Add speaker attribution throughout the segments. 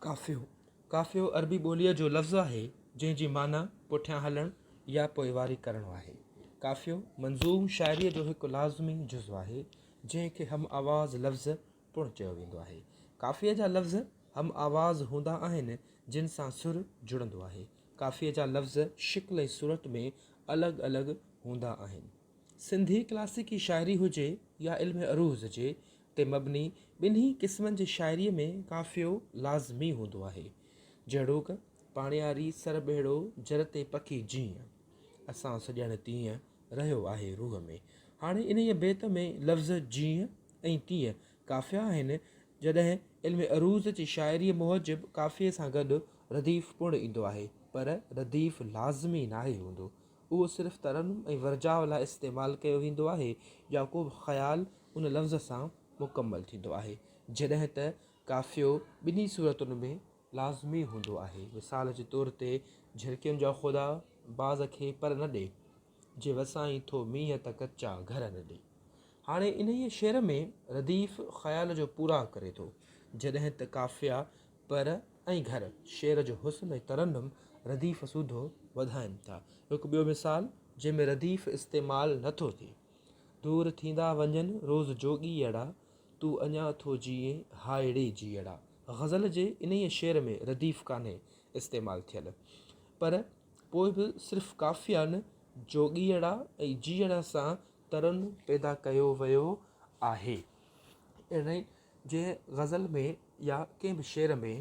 Speaker 1: قافيو، قافيو عربي ٻوليء جو لفظ آهي، جنهن جي معنيٰ پٺيان هلڻ يا پوئواري ڪرڻ آهي. قافيو منظوم شاعريء جو هڪ لازمي جزو آهي، جنهن کي هم آواز لفظ پڻ چيو ويندو آهي. قافيي جا لفظ هم آواز هوندا آهن، جن سان سر جڙندو آهي. قافيي جا لفظ شڪل ۽ صورت ۾ الڳ الڳ هوندا آهن. سنڌي ڪلاسيڪي شاعري هجي يا علم عروض جي تي مبني ٻنهي قسمن جي شاعريء ۾ قافيو لازمي هوندو آهي. جهڙوڪ، پاڻياري سر ٻهڙو جر تي پکي جيئن، اسان سڄڻ تيئن، رهيو آهي روح ۾. هاڻي انهيء بيت ۾ لفظ جيئن ۽ تيئن قافيا آهن، جڏهن علم عروض جي شاعريء موجب قافيي سان گڏ رديف پڻ ايندو آهي، پر رديف لازمي ناهي هوندو. اهو صرف ترنم ۽ ورجاء لاء استعمال ڪيو ويندو آهي يا ڪو به خيال ان لفظ سان مڪمل ٿيندو آهي، جڏهن ته قافيو ٻنهي صورتن ۾ لازمي هوندو آهي. مثال جي طور تي، جهرڪين جا خدا، باز کي پر نه ڏي، جي وسائين ٿو مينهن ته ڪچا گهر نه ڏي. هاڻي انهيء شعر ۾ رديف خيال جو پورا ڪري ٿو، جڏهن ته قافيا، پر ۽ گهر شعر جو حسن ۽ ترنم رديف سوڌو وڌائين ٿا. هڪ ٻيو مثال جنهن ۾ رديف استعمال نه ٿو ٿئي. دور ٿيندا وڃن روز جوڳيئڙا، تون اڃا ٿو جيئين هائڙي جيئڙا. غزل جي انهيء شعر ۾ رديف ڪانهي استعمال ٿيل. پر پوء به صرف قافيائن جوڳيئڙا ۽ جيئڙا سان ترنم پيدا ڪيو ويو آهي. اهڙي جنهن غزل ۾ يا ڪنهن به شعر ۾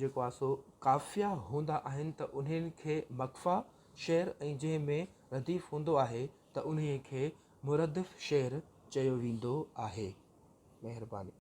Speaker 1: جيڪو آهي سو قافيا هوندا آهن ته انهن کي مقفيٰ شعر ۽ جنهن ۾ رديف هوندو آهي ته انهيء کي مردف شعر چيو ويندو آهي. مهرباني.